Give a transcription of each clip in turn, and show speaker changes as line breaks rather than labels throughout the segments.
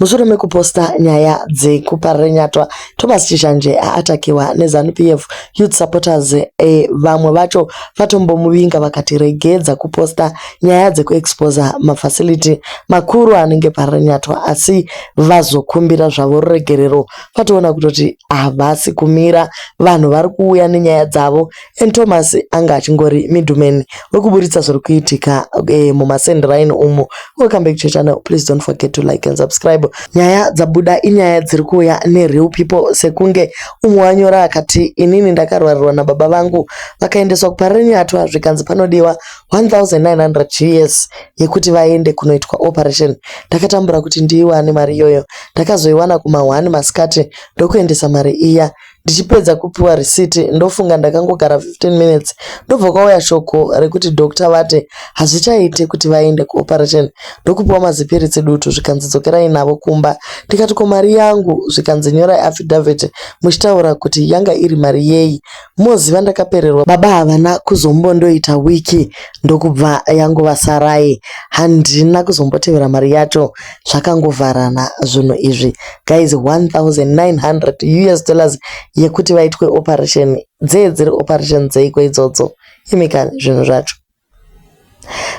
Mushure mekuposta nyaya dzekuparira nyatwa, Thomas Chishanje aatakiwa neZanu-PF Youth Supporters e, vamwe vacho vatombomuvinga vakati regedza kuposta nyaya dzekuexposer mafacility makuru anenge parira nyatwa asi vazokumbira zvavo ruregerero vatoona kutoti havasi kumira vanhu vari kuuya nenyaya dzavo and Thomas anga achingori middleman wekuburitsa zviri kuitika eh, mumasend rhine umo welcome back to channel please don't forget to like and subscribe nyaya dzabuda inyaya dziri kuuya nereal people sekunge umwe wanyora akati inini ndakarwarirwa nababa vangu vakaendeswa kuparenyatwa zvikanzi panodiwa 1900 gs yekuti vaende kunoitwa operation ndakatambura kuti ndiiwane mari iyoyo ndakazoiwana kuma 1 masikati ndokuendesa mari iya Ndichipedza kupiwa risiti ndofunga ndakangogara 15 minutes ndobva kwauya shoko rekuti doctor vate hazvichaite kuti vaende kuoperation ndokupiwa mazipiritsi dutu zvikanzi dzokerai navo kumba ndikati ko mari yangu zvikanzi nyorai affidavit muchitaura kuti yanga iri mari yeyi moziva ndakapererwa baba havana kuzombondoita wiki ndokubva yangova sarai handina kuzombotevera mari yacho zvakangovharana zvinhu izvi guys 1900 us dollars yekuti vaitwe operation dzee dziri operation dzeiko idzodzo imika zvinhu zvacho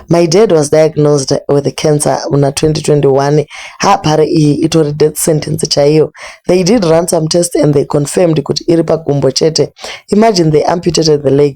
my dad was diagnosed with cancer muna 2021 hapare iyi itori death sentence chaiyo they did run some test and they confirmed kuti iri pagumbo chete imagine they amputated the leg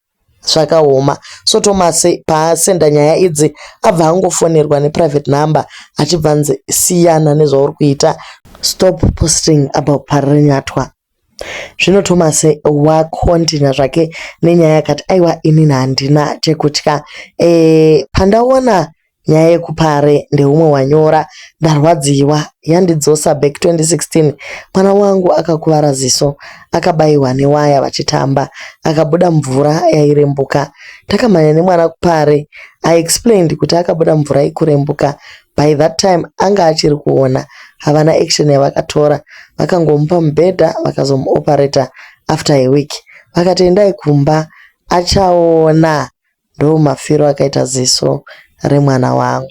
zvakaoma so Thomas paasenda nyaya idzi abva angofonerwa neprivate number achibva anzi siyana nezvauri kuita stop posting about Parirenyatwa zvino Thomas wakontinya zvake nenyaya yakati aiwa inini handina chekutya e, pandaona Nyaya yekupare ndeumwe wanyora ndarwadziwa yandidzosa back 2016 mwana wangu akakuvara ziso akabayiwa newaya vachitamba akabuda mvura yairembuka takamhanya nemwana kupare I explained kuti akabuda mvura ikurembuka by that time anga achiri kuona havana action yavakatora vakangomupa mubhedha vakazomuoperator after a week vakati endai kumba achaona ndomafiro akaita ziso remwana wangu.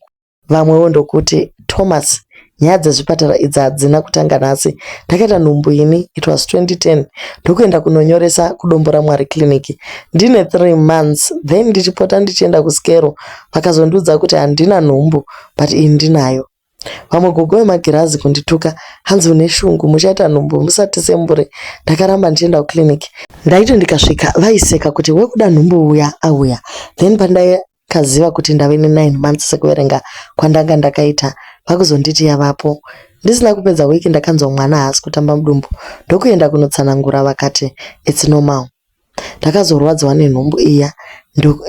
Vamwewo ndokuti, Thomas, nyaya dzezvipatara idzi hadzina kutanga nhasi. Ndakaita nhumbu ini, it was 2010, ndokuenda kunonyoresa kuDombo raMwari Clinic ndine three months then ndichipota ndichienda kuScero. Vakazondiudza kuti handina nhumbu but iyi ndinayo. Vamwe gogo vemagirazi kundituka hanzi une shungu muchaita nhumbu musati sembure ndakaramba ndichienda kuclinic. Ndaiti ndikasvika vaiseka kuti wekuda nhumbu uya auya then pandakaziva kuti ndave nenine months sekuverenga kwandanga ndakaita vakuzonditi yavapo. Ndisina kupedza week ndakanzwa mwana haasi kutamba mudumbu ndokuenda kunotsanangura vakati it's normal. Ndakazorwadziwa nenhumbu iya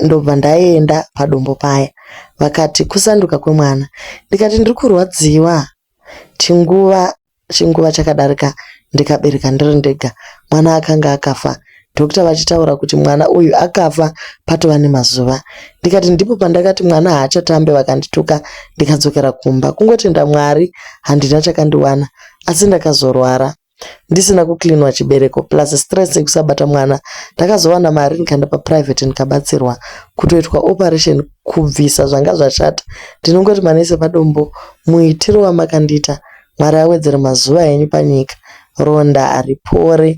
ndobva ndaenda padombo paya. Vakati kusanduka kwemwana ndikati ndiri kurwadziwa chinguva chinguva chakadarika ndikabereka ndiri ndega mwana akanga akafa dhokita vachitaura kuti mwana uyu akafa patova nemazuva ndikati ndipo pandakati mwana haachatambe vakandituka ndikadzokera kumba kungotenda mwari handina chakandiwana asi ndakazorwara ndisina kucleanwa chibereko plus stress yekusabata mwana ndakazowana mari ndikaenda paprivate ndikabatsirwa kutoitwa operation kubvisa zvanga zvashata ndinongoti manese padombo muitiro wamakandiita mwari awedzere mazuva enyu panyika ronda haripore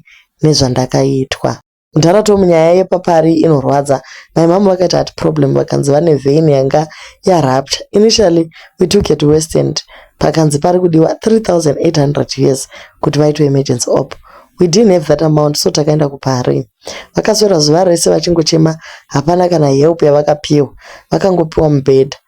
nezvandakaitwa Mdhara Tom nyaya yepapari inorwadza. My mom vakaita heart problem vakanzi vane vein yanga yarupture. Initially we took her to West End pakanzi pari kudiwa 3800 us kuti vaitwe emergency op. We didn't have that amount so takaenda kuParis. Vakaswera zuva rese vachingochema hapana kana help yavakapiwa. Vakangopiwa mubhedha.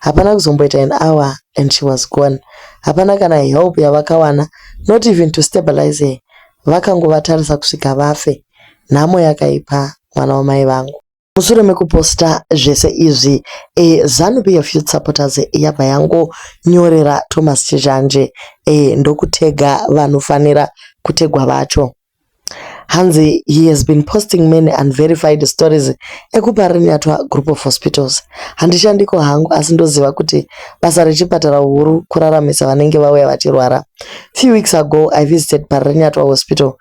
Hapana kuzomboita an hour and she was gone. Hapana kana help yavakawana not even to stabilize her. Vakangovatarisa kusvika vafe. Nhamo yakaipa mwana wamai vangu. Mushure mekuposta zvese izvi, a Zanu PF Youth Supporters yabva yangonyorera Thomas Chizhanje a ndokutega vanofanira kutegwa vacho. hanzi he has been posting many unverified stories ekuparinyatwa group of hospitals handishandiko hangu asi ndoziva kuti basa rechipatara huru kuraramisa vanenge vauya vachirwara few weeks ago i visited parinyatwa hospital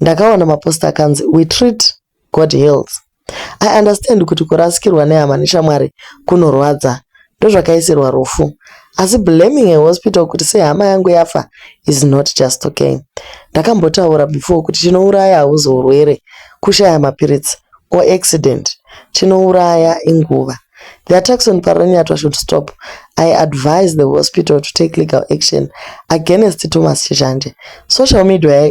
ndakaona maposta akanzi we treat God heals. I understand kuti kurasikirwa nehama neshamwari kunorwadza ndozvakaisirwa rufu asi blaming a hospital kuti sei hama yangu yafa is not just okay. Ndakambotaura before kuti chinouraya hauzi urwere, kushaya mapiritsi or accident. Chinouraya inguva. The attacks on Paranyatwa should stop. I advise the hospital to take legal action against Thomas Chishanje. Social media,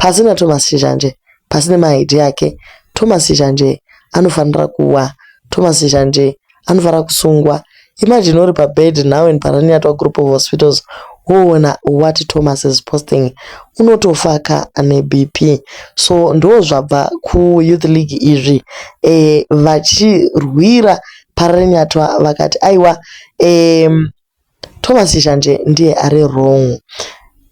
Pasi na Thomas Shizhanje pasi ne ma idea ake Thomas Shizhanje anofanira kuwa Thomas Shizhanje anofanira kusungwa Imagine uri pa bed now in Paraniatwa group of hospitals woona what Thomas is posting unotofa ka ane BP so ndo zvabva ku youth league izvi eh vachirwira Paraniatwa vakati aiwa eh Thomas Shanje ndiye ari wrong.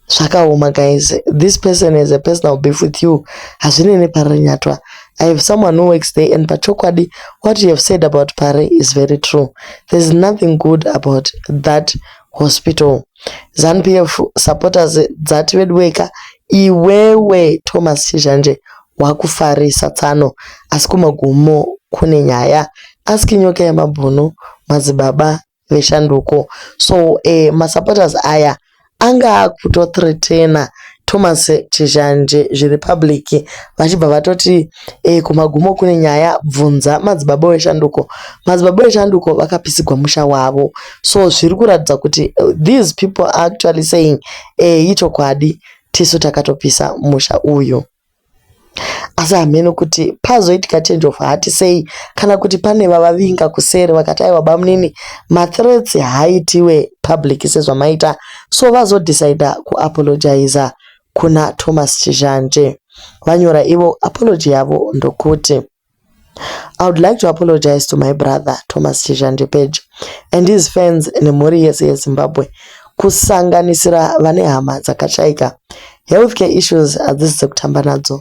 Zvakaoma guys. This person has a personal beef with you. Hazvinei neParry Nyatwa. I have someone who works there and pachokwadi what you have said about Parry is very true. There's nothing good about that hospital. ZANPF supporters dzati veduweka iwewe Thomas Chizhanje wakufarisa tsano asi kumagumo kune nyaya. Ask nyoka yemabhunu madzibaba veshanduko so uh, eh, masupporters aya anga akutothreatena thomas chizhanje zviri public vachibva vatoti e, kumagumo kune nyaya bvunza madzibaba weshanduko madzibaba weshanduko vakapisigwa musha wavo so zviri kuratidza kuti eh, these people are actually saying e, ichokwadi tisu takatopisa musha uyu Asi hameno kuti pazoitika change of heart sei kana kuti pane vavavinga kuseri vakati aiwa bamunini mathreats haaitiwe public sezvamaita so vazodecider kuapologizer kuna Thomas Chizhanje. Vanyora ivo apology yavo ndokuti. I would like to apologize to my brother Thomas Chizhandipeja and his fans nemhuri yese yeZimbabwe kusanganisira vane hama dzakashaika. Healthcare issues hadzisi dzekutamba nadzo.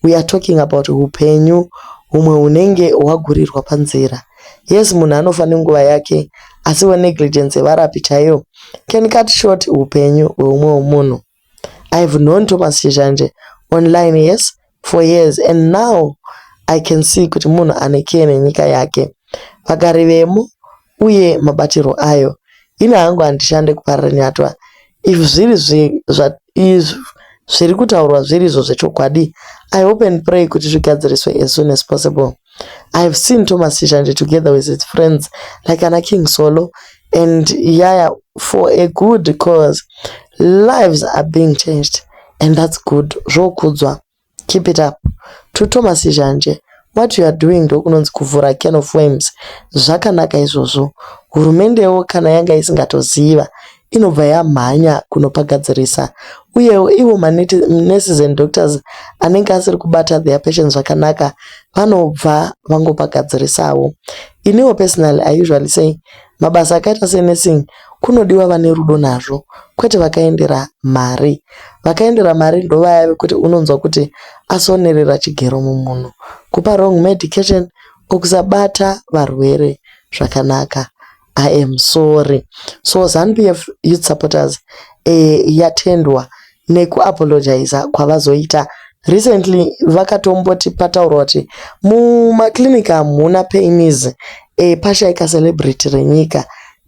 We are talking about hupenyu humwe hunenge hwagurirwa panzira. Yes munhu anofa nenguva yake asiwo negligence yevarapi chaiyo can cut short hupenyu hweumwewo munhu. I've known Thomas Chizhanje online yes for years and now I can see kuti munhu ane care nenyika yake. Vagari vemo uye mabatirwo ayo. Ini hangu handishande kuparira nyatwa. If zviri zvi, zva, izv, zviri kutaurwa zviri izvo zvechokwadi, I hope and pray kuti zvigadziriswe as soon as possible. I have seen Thomas Chishanje together with his friends like ana King Solo and Yaya for a good cause. Lives are being changed and that's good. Zvokudzwa. Keep it up. To Thomas Chishanje, what you are doing ndokunonzi kuvhura can of worms. Zvakanaka izvozvo. Hurumendewo kana yanga isingatoziva inobva yamhanya kunopagadzirisa uyewo ivo manurses and doctors anenge asiri kubata their patients zvakanaka vanobva vangopagadzirisawo iniwo personally i usually say mabasa akaita senursing kunodiwa vane rudo nazvo kwete vakaendera mari vakaendera mari ndovaya vekuti unonzwa kuti asonerera chigero mumunhu kupa wrong medication okusabata varwere zvakanaka I am sorry. So ZanuPF youth supporters eh, yatendwa nekuapologiza kwavazoita recently vakatomboti pataurwa kuti mumaclinic hamuna painis eh, pashaika celebrity renyika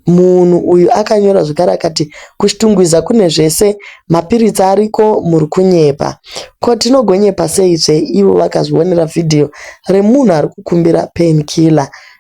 munhu uyu akanyora zvekare akati kuchitungwiza kune zvese mapiritsi ariko muri kunyepa ko tinogonyepa sei zve ivo vakazvionera vhidhiyo remunhu ari kukumbira painkiller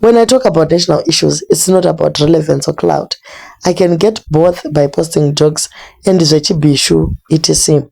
When I talk about national issues, it's not about relevance or clout. I can get both by posting jokes and zvechibishu, etc.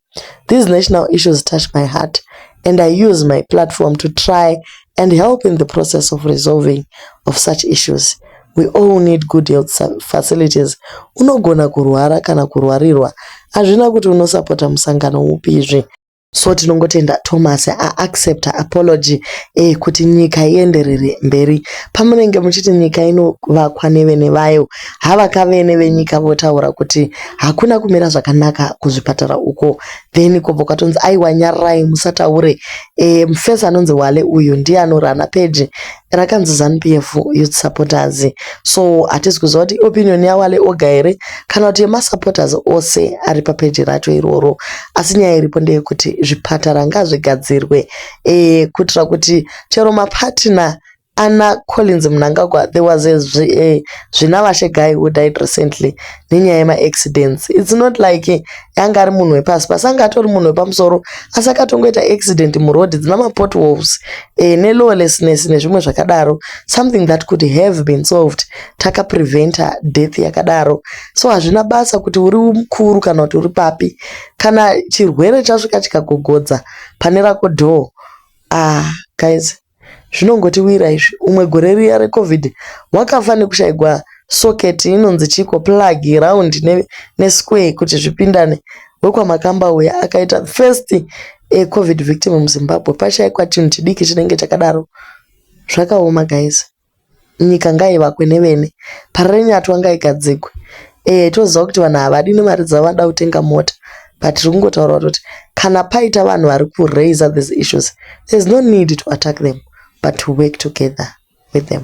These national issues touch my heart and I use my platform to try and help in the process of resolving of such issues. We all need good health facilities. Unogona kurwara kana kurwarirwa. Hazvina kuti unosapota musangano upizve. So tinongotenda Thomas a accept apology eh, kuti nyika ienderere mberi. Pamunenge muchiti nyika inovakwa nevene vayo, havaka vene venyika votaura kuti hakuna kumira zvakanaka kuzvipatara uko, then kobva kwatonzi aiwa nyararai musataure. Eh, mufesi anonzi Wale uyu ndiye anorana peji rakanzi zanupf youth supporters so hatizi kuziva kuti opinion yawale oga here kana kuti yemasupporters ose ari papeji racho iroro asi nyaya iripo ndeyekuti zvipatara ngazvigadzirwe e, kuitira kuti chero mapatina ana collins munangagwa there was a eh, zvina vashe guy who died recently nenyaya yemaaccidents its not like anga ari munhu wepasi pasi anga atori munhu wepamusoro asi akatongoita accident muroad dzina mapot wolves e, eh, nelawlessness nezvimwe zvakadaro something that could have been solved takapreventer death yakadaro so hazvina basa kuti uri mukuru kana kuti uri papi kana chirwere chasvika chikagogodza pane rako door ah guys zvinongotiwira izvi umwe gore riya recovid wakafa nekushaigwa socket inonzi chiko plug round nesquare kuti zvipindane wekwamakamba uya akaita first covid victim muzimbabwe pashaikwa chinhu chidiki chinenge chakadaro zvakaoma guys nyika ngaivakwe nevene Parirenyatwa ngaigadzigwe eeh toziva kuti vanhu havadi nemari dzavo vanoda kutenga mota but tiri kungotaura kuti kana paita vanhu vari kuraiser these issues there is no need to attack them but to work together with them